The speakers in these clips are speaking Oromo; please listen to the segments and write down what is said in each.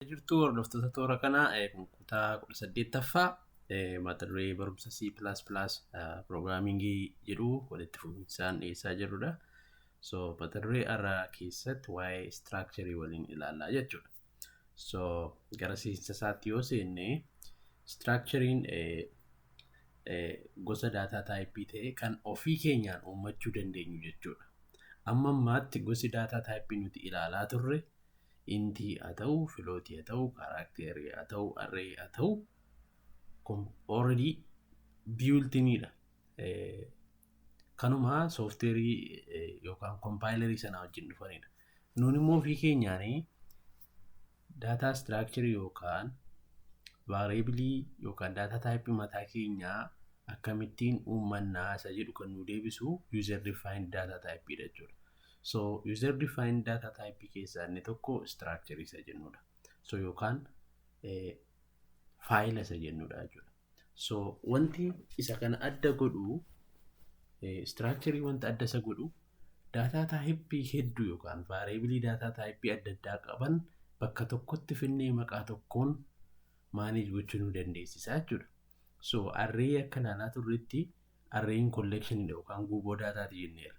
jirtu hordoftoota toora kanaa kutaa kudha saddeettaffaa mata duree barumsa C++ piroogiraamingii jedhu walitti fufinsaan dhiyeessaa jirrudha. So mata duree irraa keessatti waa'ee istiraakcharii waliin ilaallaa jechuudha. So gara seensa isaatti yoo seenne istiraakchariin gosa daataa taayippii ta'e kan ofii keenyaan uummachuu dandeenyu jechuudha. Amma ammaatti gosi daataa taayippii nuti ilaalaa turre Inti haa ta'u, float haa ta'u, character haa ta'u, array haa ta'u kun already built-in dha. Eh, Kanuma software eh, yookaan compiler sana wajjin dhufanidha. Nuun immoo ofii keenyaanii data structure yookaan variable yookaan data type mataa keenyaa akkamittiin uummannaa isa jedhu kan nu deebisu user defined data type dha jechuudha. So user defined data type keessaa inni tokko structure isa jennudha. So yookaan faayila isa jennudha jechuudha. So wanti isa kana adda godhu structure wanta adda isa godhu daataa taayippii hedduu yookaan vaariyeebilii daataa taayippii adda addaa qaban bakka tokkotti finnee maqaa tokkoon maaneej gochuu nu dandeessisa jechuudha. So arree akka ilaalaa turretti Arreeyiin kolleekshinii dha yookaan guuboo daataa ti jenneerra.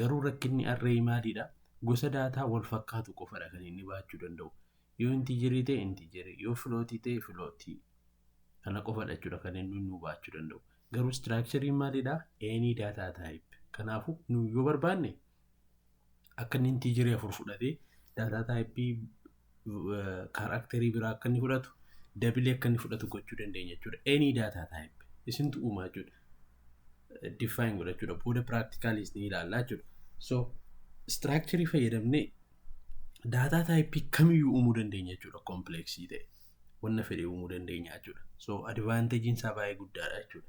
Garuu rakkinni arreeyii maalii dha? Gosa daataa wal fakkaatu qofa dha kan inni baachuu danda'u. Yoo intiijerii ta'e intiijerii, yoo filootii ta'e filootii. Kana qofa dha jechuudha kan inni nuu baachuu danda'u. Garuu istiraakchariin maalii dha? Any data type. Kanaafuu nu yoo barbaanne akka inni intiijerii afur fudhatee daataa taayippii kaaraakterii biraa akka inni fudhatu dabilee akka inni fudhatu gochuu dandeenya jechuudha. Any daataa taayippii isintu uumaa jechuudha. Define godha jechuudha. Booda piraaktikaalis ni ilaalla jechuudha. So istiraakcharii fayyadamnee daataa taayippii kamiyyuu uumuu dandeenya jechuudha. Kompleeksii ta'e wanna fedhe uumuu dandeenya jechuudha. So advaanteejiin isaa baay'ee guddaadha jechuudha.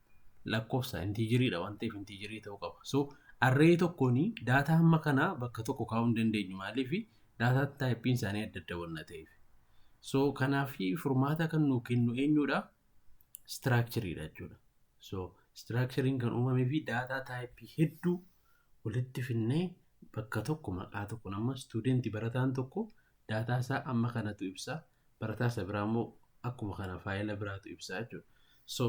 lakkoofsa intiijiriidha waan ta'eef intiijirii ta'uu qaba. So arree tokkoon daataa hamma kanaa bakka tokko kaa'uu hin dandeenyu maaliif daataa taayippiin isaanii adda adda waan ta'eef. So kanaaf furmaata kan nuu kennu eenyudha? Istiraakchiriidha jechuudha. So istiraakchiriin kan uumamee fi daataa taayippii hedduu walitti finnee bakka tokko maqaa tokko nama istuudentii barataan tokko daataa isaa amma kanatu ibsa barataa isa biraa immoo akkuma kana faayila biraatu ibsaa jechuudha. So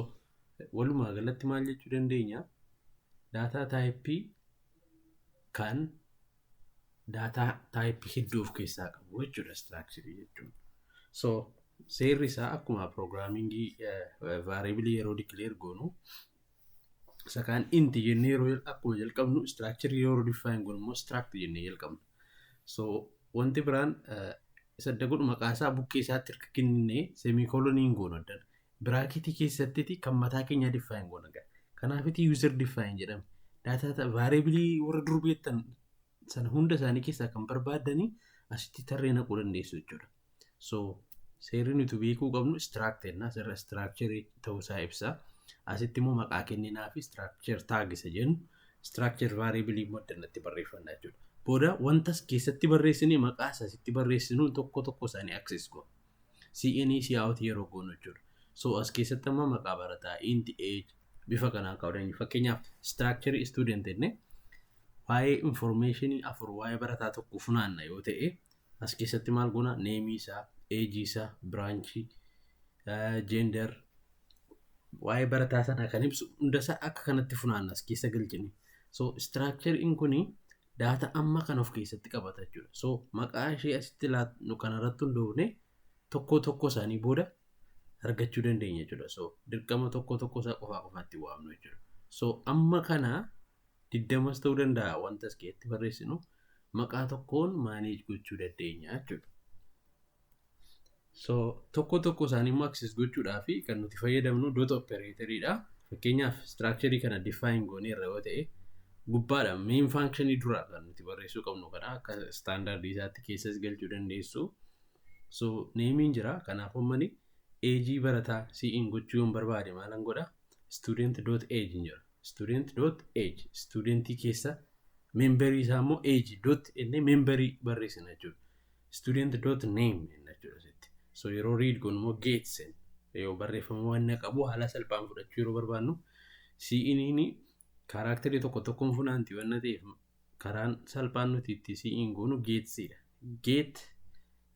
walumaa galatti maal jechuu dandeenya? Daataa taayippii kan daataa taayippii hedduu of keessaa qabu jechuudha istiraakcharii jechuun. So seerri isaa akkuma piroogiraamingii vaariibilii yeroo dikileer goonu isa kaan inti jennee yeroo akkuma jalqabnu istiraakcharii yeroo difaayin goonu immoo istiraakti jennee jalqabna. So wanti biraan isa adda godhu maqaa isaa bukkee isaatti erga kenninee semikolonii hin goonu addan. Biraaketii keessattiti kan mataa keenyaa diffaayin goona gaa. Kanaafiti user diffaayin jedhame. Daataa vaariabilii warra dur beektan sana hunda isaanii keessaa kan barbaaddanii asitti tarree naquu dandeessu jechuudha. So seerri nuti beekuu qabnu structure na seerra structure ta'uu isaa ibsa. Asitti immoo maqaa kenninaa fi structure tag isa jennu structure variable immoo addanatti barreeffanna jechuudha. Booda wantas keessatti barreessine maqaa isa asitti barreessinu tokko tokko isaanii access goona. CNE cout yeroo goonu jechuudha. So as keessatti amma maqaa barataa int age bifa kanaan kaa'uu dandeenya. Fakkeenyaaf structure student jennee waa'ee information afur waa'ee barataa tokko funaanna yoo ta'e As keessatti maal goona? Neemii isaa, eejii isaa, biraanchii, jeender, waa'ee barataa sanaa kan ibsu hundasaa akka kanatti funaanna as keessa galchine. So istiraakchariin kun daata amma kan of keessatti qabata jechuudha. So maqaa ishee asitti laatnu kanarratti hundoofne tokko tokko isaanii booda argachuu dandeenya jechuudha. So dirqama tokko tokko isaa qofaa qofaatti waamnu jechuudha. So amma kana digdamas ta'uu danda'a wanta as keessatti barreessinu maqaa tokkoon maaneej gochuu dandeenya jechuudha. So tokko tokko isaanii immoo access gochuudhaa fi kan nuti fayyadamnu dot operator dha. Fakkeenyaaf structure kana define goonee irra yoo ta'e gubbaadha main function dura kan nuti barreessuu qabnu kana akka standard isaatti keessas galchuu dandeessu. So neemiin jira kanaaf ummani eejii barataa si'iin gochuu yoon barbaade maalan godha student dot age jira. student dot age studentii keessa memberii isaa immoo age dot inni memberii barreessina jechuudha. student dot name jenna jechuudha asitti. so yeroo read goonu immoo get sen yoo barreeffama waan na qabu haala salphaan fudhachuu yeroo barbaannu si'iniini kaaraakterii tokko tokkoon funaanti waan na ta'eef karaan salphaan nuti itti si'in goonu geetsidha. get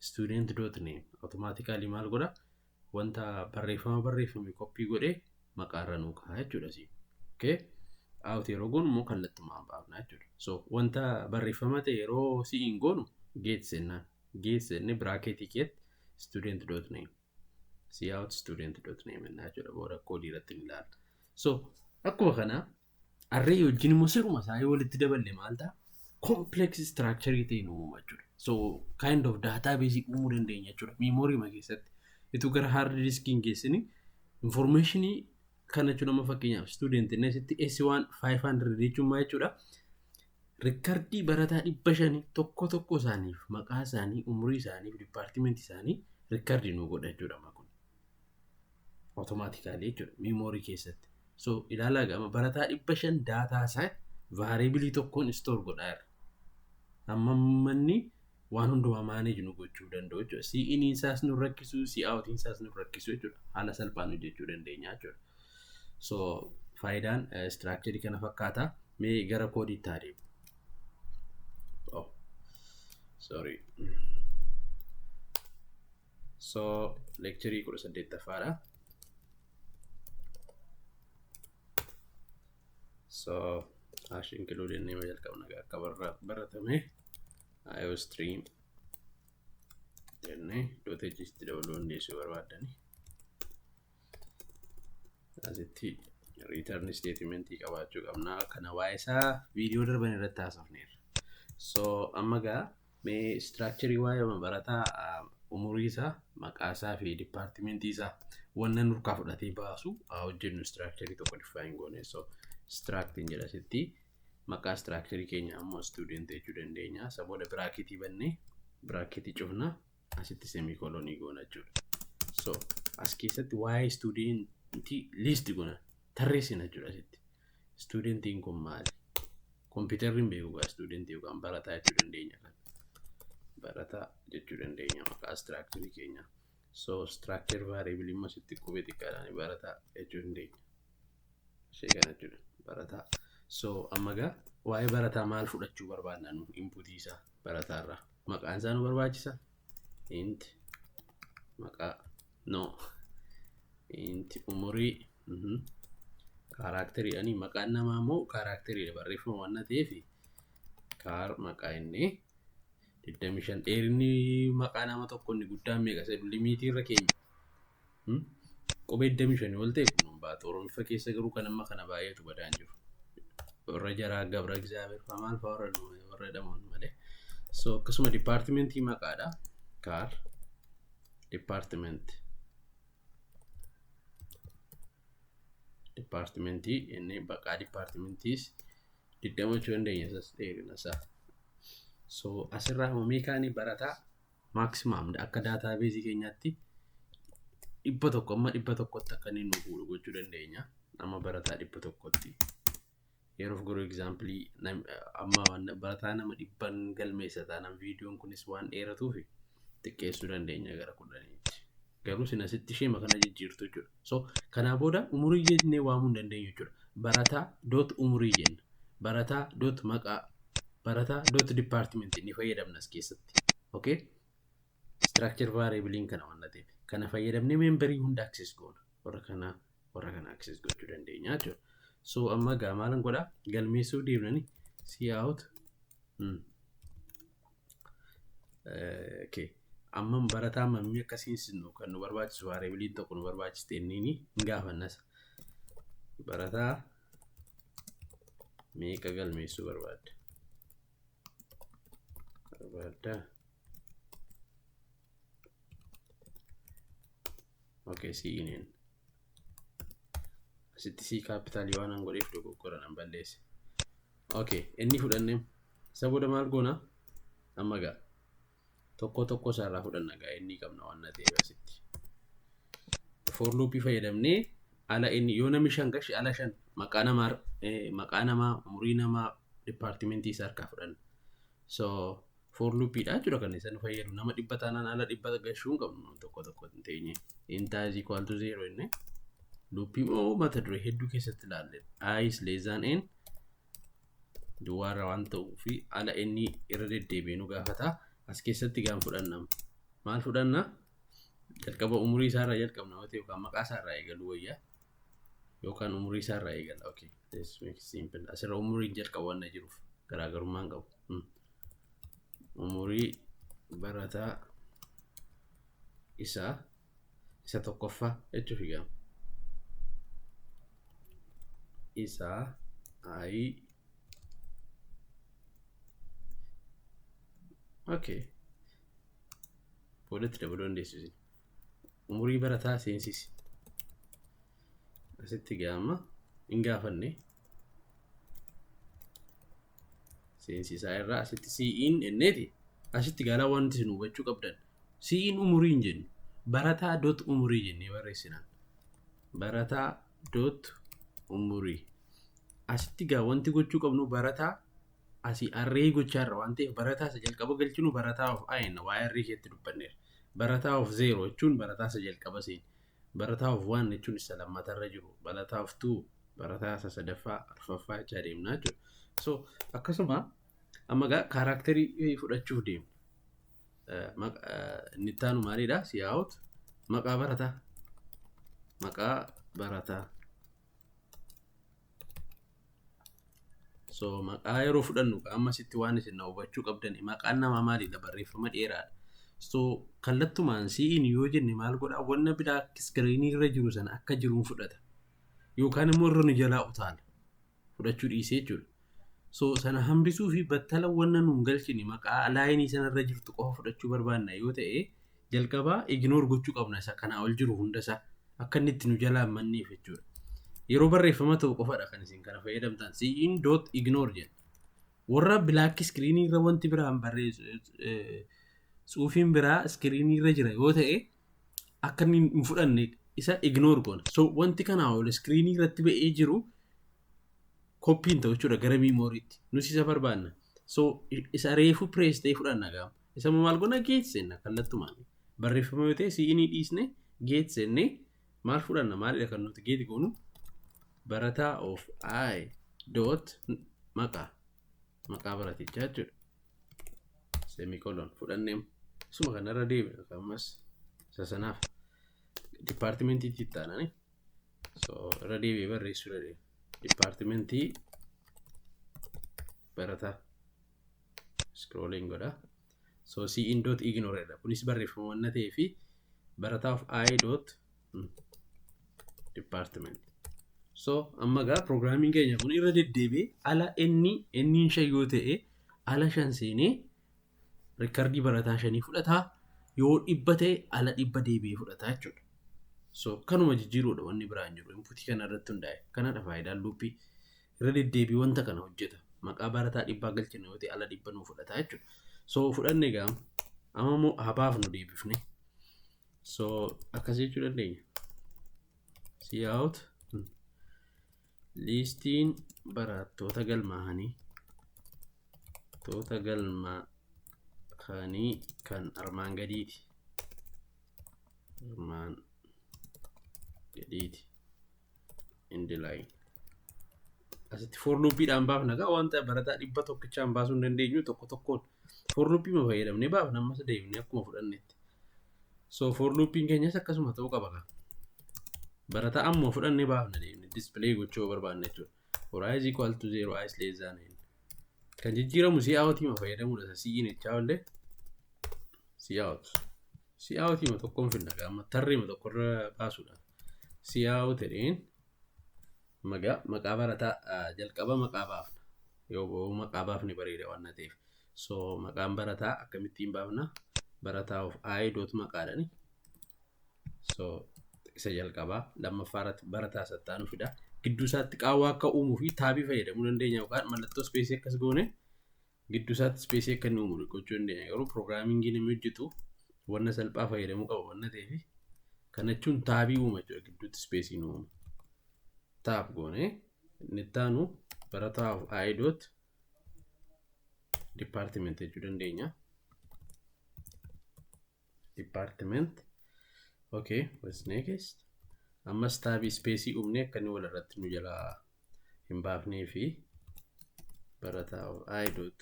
student dot name automatically maal godha wanta barreeffama barreeffame koppii godhee maqaa irra nuu kaa'a jechuudha asiin. Okay? Out yeroo goonu immoo kallattumaan baafna jechuudha. So wanta barreeffama ta'e yeroo si'iin goonu geet sennaan. Geet senne biraakeetii keetti student dot name. See out student dot name jennaa jechuudha. Booda koodii irratti ni ilaalla. So akkuma kana Array wajjin immoo siruma isaa yoo walitti daballe maal ta'a? Complex structure ta'e nu uuma jechuudha. So kind of database uumuu dandeenya jechuudha. Memory ma keessatti. Ituu gara hard disk hin geessini information kana jechuun amma fakkeenyaaf student inni asitti S1 500 jechuun maa jechuudha? Rikkardii barataa dhibba shanii tokko tokko isaaniif maqaa isaanii umurii isaaniif dipaartimentii isaanii rikkardii nu godha jechuudha amma kun. Automatically jechuudha. Memory keessatti. So ilaalaa gama barataa dhibba shan daataa isaa variable tokkoon store godhaa irra. Amma manni waan hundumaa manage nu gochuu danda'u jechuudha. Si iniin isaas nu rakkisu, si outiin isaas nu rakkisu jechuudha. Haala salphaan hojjechuu dandeenya jechuudha. So faayidaan structure kana fakkaata. Mee gara koodiitti haa deemu. Oh, sorry. So lecturii kudha saddeettaffaadha. So hash include inni yoo jalqabna akka baratame IO stream jennee dot hojjiitti dabaluu hundeessuu barbaadani. Asitti return statement qabaachuu qabna. Kana waa'ee isaa viidiyoo darban irratti haasofneerra. So amma gaa Mee istiraakcharii waa'eema barataa umurii isaa maqaa isaa fi dipaartimentii isaa wanna nurkaa fudhatee baasu haa hojjennu istiraakcharii tokko difaayin goone so istiraaktiin jedha sitti maqaa istiraakcharii keenya ammoo istuudent jechuu dandeenya isa booda biraaketii bannee biraaketii cufna asitti semikolonii goona jechuudha so as keessatti waa'ee istuudentii liisti goona tarreessina jechuudha asitti Istuudentiin kun maali? Kompiitarri hin beeku gaa istuudentii yookaan barataa jechuu dandeenya kan. Barataa jechuu dandeenya maqaa istiraakcharii keenya. So istiraakchar vaariyaabilii immoo sitti qubee xiqqaadhaan barataa jechuu dandeenya. Ishee kana jechuudha. Barataa. So amma gaa waa'ee barataa maal fudhachuu barbaadna nu inputii isaa barataarraa. Maqaan isaa nu barbaachisa. Int maqaa no. Int umurii Kaaraakterii ani maqaan namaa immoo kaaraakteriidha barreeffama waan ta'eef kaar maqaa inni 25 dheerinni maqaa nama tokko inni guddaan meeqa isa limiitii irra keenya. Qubee 25 ol ta'e kun hin baatu. Oromiffa keessa garuu kan amma kana baay'eetu badaan jiru. Warra jaraa gabra egzaabeer fa'aa maal fa'aa warra warra jedhaman malee. So akkasuma dipaartimentii maqaadha. Kaar dipaartimentii. Dipaartimentii inni baqaa dipaartimentiis digdama jechuu dandeenya isas dheerina isaa. So asirraa immoo meekaanii barataa maaksimaam akka daataa beezii keenyaatti dhibba tokko amma dhibba tokkotti akka inni nu fuudhu gochuu dandeenya. Amma barataa dhibba tokkotti. Yeroof garuu egzaampilii amma barataa nama dhibban galmeessa taanaan viidiyoon kunis waan dheeratuuf xiqqeessuu dandeenya gara kudhaniitti. Garuu sin asitti ishee makana jijjiirtu jechuudha. So kanaa booda umurii jennee waamuu hin dandeenyu jechuudha. Barataa doot umurii jenna. Barataa doot maqaa. Barataa doot dipaartimentii ni fayyadamna as keessatti. Okay? Structure variable'n kana waan ta'eef kana fayyadamnee memberii hunda access goona. Warra kana warra kana access gochuu dandeenya jechuudha. So amma egaa maalan godha galmeessuuf deemnani see out hmm. Eh, okay. Amma barataa mammii akkasiin sinu kan nu barbaachisu variable'n tokko nu barbaachiste inni ni hin gaafannas. Barataa meeqa galmeessuu barbaadda? barbaadda ok siineen asitti sii kaappitaalii waan an godheef dogoggora nan balleesse ok inni fudhanne isa booda maal goona amma gaa tokkoo tokkoo isaa irraa fudhanna gaa inni qabna waan na ta'eef asitti. For loopii fayyadamnee ala inni yoo namni shan gashi ala shan maqaa namaa eh, maqaa namaa umurii namaa dipaartimentii isaa harkaa fudhanna. So for loopiidha jechuudha kan isa nu fayyadu nama dhibba taanaan ala dhibba gashuu hin qabnu namni tokko tokko hin teenye. Intaa is equal to zero inni. Loopii moo mata duree hedduu keessatti ilaalle. I is less than n duwwaarra waan ta'uu fi ala inni irra deddeebi'ee nu gaafata. As keessatti gaan fudhanna. Maal fudhanna? Jalqaba umurii isaarraa jalqabna yoo ta'e yookaan maqaa isaarraa eegaluu wayya. Yookaan umurii isaarraa eegala. Okay. This makes it simple. Asirra umuriin jalqaba waan na jiruuf garaagarummaa hin qabu. Hmm. Umurii barataa isaa isa tokkoffaa jechuuf hiikama. Isa i okay. boodatti dabaluu dandeessu isin. Umurii barataa seensisi. Asitti gaama hin gaafanne. seensisaa irraa asitti sii'iin enneeti asitti galaa wanti isin hubachuu qabdan sii'iin umurii hin jennu barataa dot umurii jennee barreessinaan barataa dot umurii asitti gaa wanti gochuu qabnu barataa asii arree gochaa irra waan ta'eef barataa isa jalqaba galchinu barataa of ayenna waa arree keessatti dubbanneera barataa of zeero jechuun barataa isa jalqaba seen Barataa of one jechuun isa lammata irra jiru, barataa of two, barataa isa sadaffaa, arfaffaa jechaa deemna jechuudha. So akkasuma amma egaa kaaraakterii fudhachuuf deemna. Eh, maq- eh, Inni itti aanu maalidha? Siyaa'oot maqaa barataa. Maqaa barataa. So maqaa yeroo fudhannu amma sitti waan isin na hubachuu qabdan maqaan namaa maalidha barreeffama dheeraadha. So kallattumaan si'iin yoo jenne maal godhaa wanna biraa iskiriinii irra jiru sana akka jiruun fudhata. Yookaan immoo irra nu jalaa utaala. Fudhachuu dhiisee jechuudha. So sana hambisuu fi battala wanna nuun galchine maqaa laayinii sana irra jirtu qofa fudhachuu barbaanna yoo ta'e Jalqaba ignore gochuu qabna isa kanaa ol jiru hunda isaa akka inni itti nu jalaa hin manneef jechuudha. Yeroo barreeffama ta'u qofadha kan isin kana fayyadamtan. Siin dot ignore jedha. Warra black screen irra wanti biraan barreessu eh, tsuufiin biraa screen irra jira yoo ta'e akka inni hin fudhanne isa ignore goona. So wanti kanaa ol screen irratti ba'ee jiru koppiin ta'u jechuudha gara miimooriitti. Nus isa barbaanna. So i- isa reefu press ta'e fudhanna gaama. Isa immoo maal goona geet seenna kallattumaan. Barreeffama yoo ta'e siinii dhiisne geet seennee maal fudhanna maalidha kan nuti geet goonu barataa of i dot maqaa maqaa baratichaa jechuudha. Semikolon fudhannee suma kanarra deebina ammas isa sanaaf dipaartimentiitti itti aananii so irra deebi'ee barreessuu dandeenya. Dipaartimentii barataa scrolling godha so c in dot ignore dha kunis barreeffama wanna ta'ee fi barataaf i dot department so amma gaa programming keenya kun irra deddeebi'ee ala inni inni shan yoo ta'e ala shan seenee rikkardii barataa shanii fudhataa yoo dhibba ta'e ala dhibba deebi'ee fudhataa jechuudha. So kanuma jijjiiruudha wanni biraan jiru inputii kana irratti hundaa'e kanadha faayidaan luuppii. irra deddeebii wanta kana hojjeta. Maqaa barataa dhibbaa galchina yoo ta'e ala dhibba nuu fudhata jechuudha. So fudhanne egaa amma immoo haa baafnu deebifne. So akkas jechuu dandeenya. See out liistiin barattoota galmaa'anii toota galmaa'anii kan armaan gadiiti. Armaan gadiiti. indilaay asitti foorluuppiidhaan baafna gaa wanta barataa dhibba tokkichaan baasuu hin dandeenyu tokko tokkoon foorluuppii ma fayyadamne baafna ammas deebine akkuma fudhannetti so foorluuppiin keenyas akkasuma ta'uu qaba gaa barataa ammuma fudhanne baafna deebine dispilay gochuu barbaanne jechuudha for i is equal to 0 i is less than n kan jijjiiramu si out hima fayyadamuudha isa si'iin jechaa olle si out si out hima tokkoon finna gaama tarree hima tokkorra baasuudha si out jedheen magaa maqaa barataa ah, jalqaba maqaa baafna yoo yoo maqaa baafne bareeda waan na ta'eef so maqaan barataa akkamittiin baafna barataa of i dot maqaadhani so isa jalqabaa lammaffaa irratti barataa sattaanu fida gidduu isaatti qaawwaa akka uumuu fi taabii fayyadamuu dandeenya yookaan mallattoo ispeesii akkas goone gidduu isaatti ispeesii akka inni uumu gochuu dandeenya garuu pirogiraamingii namni hojjetu wanna salphaa fayyadamuu qaba wanna ta'eef kana jechuun taabii uuma jechuudha gidduutti ispeesii nu uumu taab goone inni itti aanu barataa of aayidoot dipaartimenti jechuu dandeenya. department okay what's next ammas taabii ispeesii uumnee akka inni walirratti nu jalaa hin baafnee fi barataa of i dot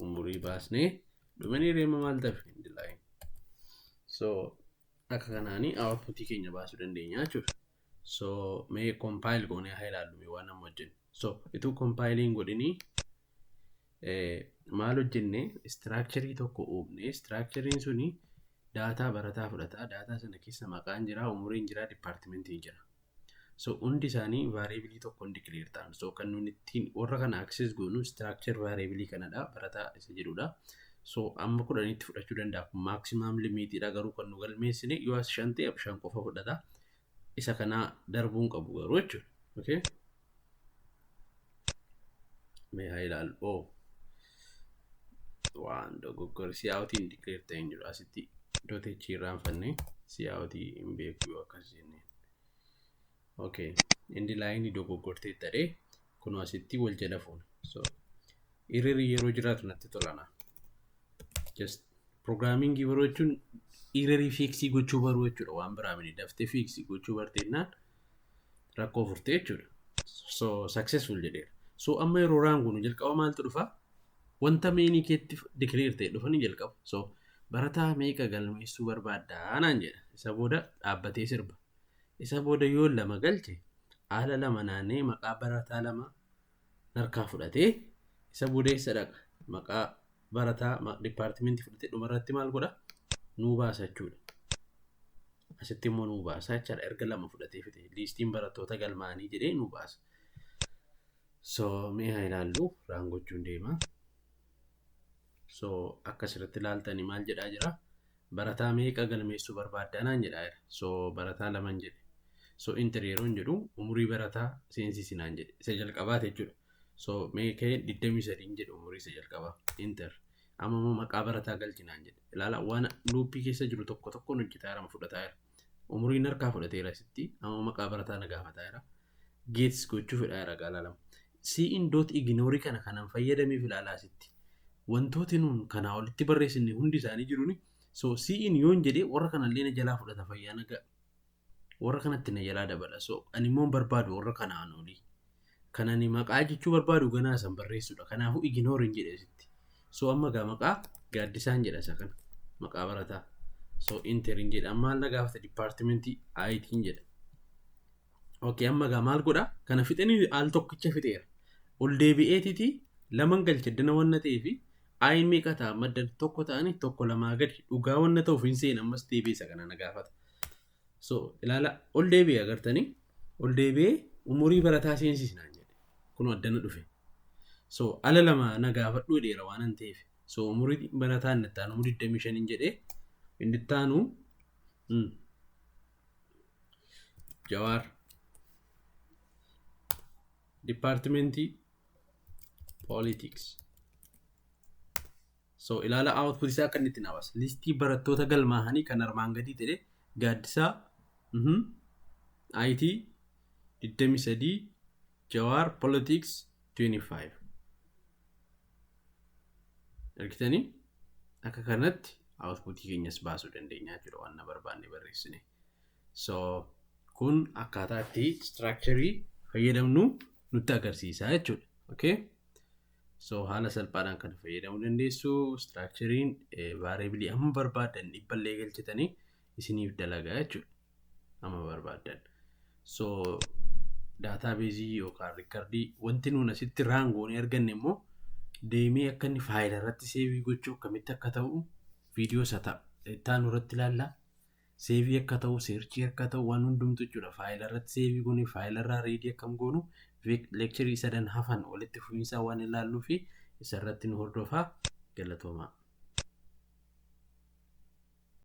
umurii baasnee dhumanii reema maal ta'e hin dilaayin so akka kanaanii outputii keenya baasuu dandeenya jechuudha so mee compile goonee haa ilaallume waan amma hojjennu So ituu kompaayilii hin godhinii maal hojjenne istiraakcharii tokko uumne istiraakchariin suni daataa barataa fudhata daataa sana keessa maqaan jira umuriin jira dipaartimentiin jira so hundi isaanii vaariibilii tokkoon dikileer ta'an so kan nuti ittiin warra kana aksees goonu istiraakchar vaariibilii kanadha barataa isa jedhudha so amma kudhanitti fudhachuu danda'a kun maaksimaam limiitiidha garuu kan nu galmeessine yoo as shan ta'e shan qofa fudhata isa kanaa darbuu hin qabu garuu jechuudha. Okay? Mee haa ilaalu. Oh. Waan dogoggora siyaawutii hin declare ta'e hin jiru. Asitti dotechi irraanfannee siyaawutii hin beeku yoo akkas jennee. Okay. Indi laayinii dogoggortee ta'ee Kun asitti wal jala fuuna. So irreri yeroo jiraatu natti tolana. Just pirogiraamingii baruu jechuun irrerii fiiksii gochuu baruu jechuudha waan biraa miti daftee fiiksii gochuu barteennaan rakkoo furtee jechuudha. So successful jedheera. So amma yeroo raanguunu jalqaba maaltu dhufa? Wanta meenii keetti declare ta'e dhufa ni jalqaba. So barataa meeqa galmeessuu barbaaddaa naan jedha. Isa booda dhaabbatee sirba. Isa booda yoon 2 galche aala 2 naanna'ee maqaa barataa 2 narkaa fudhatee isa booda eessa dhaqa? Maqaa barataa ma- dipaartimentii fudhatee dhuma irratti maal godha? Nuu baasa jechuudha. Asitti immoo nuu baasa jechaadha. Erga lama fudhatee fide liistiin barattoota galmaa'anii jedhee nuu baasa. So mee haa ilaallu raan gochuun deema. So akka asirratti ilaaltanii maal jedhaa jira? Barataa meeqa galmeessuu barbaadda naan jedhaa jedha. So barataa laman jedhe. So enter yeroon jedhu umurii barataa seensisi naan jedhe. Isa jalqabaati jechuudha. So mee ka'e 23 jedhe umurii isa jalqabaa. Enter. Amma immoo maqaa barataa galchi naan jedhe. Ilaala waan luuppii keessa jiru tokko tokkoon hojjetaa jira fudhataa jira. Umuriin harkaa fudhateera sitti. Amma maqaa barataa na gaafataa jira. Geets gochuu fedhaa jira gaalaa lama. Siin doot iginoorii kana kanan fayyadameef ilaalaa sitti. Wantooti nuun kanaa olitti barreessinne hundi isaanii jiruni. So siin yoon jedhee warra kanallee na jalaa fudhata fayyaa nagaa. Warra kanatti na jalaa dabala. So ani immoo hin barbaadu warra kanaan olii. Kan ani maqaa jechuu barbaadu ganaa san barreessuudha. Kanaafuu ignore hin jedhe asitti. So amma gaa maqaa gaaddisaan jedha isa kana. Maqaa barataa. So enter hin jedha. Amma na gaafata departmentii IT hin jedha. Okay amma gaa maal godha? Kana fixanii al tokkicha fixeera. Ol deebi'eetiti laman galcha dana wanna ta'ee fi ayi meeqa ta'a maddan tokko ta'anii tokko lamaa gadi dhugaa wanna ta'uuf hin seena ammas deebi'e isa kana na gaafata. So ilaala ol deebi'e agartanii ol deebi'ee umurii barataa seensiis naan jedhe kun addana dhufe. So ala lama na gaafadhu dheera waan an ta'eef so umurii barataa inni ittaanu umurii 25 hin jedhee inni ittaanu mm, jawaar dipaartimentii poolitiks. So ilaala output isaa akka inni itti naa baasa. Listii barattoota galmaahanii kan armaan gadii ta'e Gaaddisaa, mhm, IT 23, Jawaar Politics 25. Argitanii akka kanatti outputii keenyas baasuu dandeenya jechuudha waan na barbaanne barreessine. So kun akkaataa itti structure fayyadamnu nutti agarsiisa jechuudha. Okay? So haala salphaadhaan kana fayyadamuu dandeessu. Istiraakchariin vaareebilii amma barbaaddan dhibba illee galchitanii isiniif dalagaa jechuudha. Amma barbaaddan. So daataabeezii yookaan riikardii wanti nuun asitti raangoonii arganne immoo deemee akka inni faayila irratti seevii gochuu akkamitti akka ta'u viidiyoo isa ta'a. Ittaanu irratti ilaalla. Seevii akka ta'u, seerchii akka ta'u waan hundumtu jechuudha. Faayila irratti seevii goone, faayila irraa riidii akkam goonu leekcharii sadan hafan walitti fufiinsaa waan ilaalluu fi isa irratti nu hordofaa galatoomaa.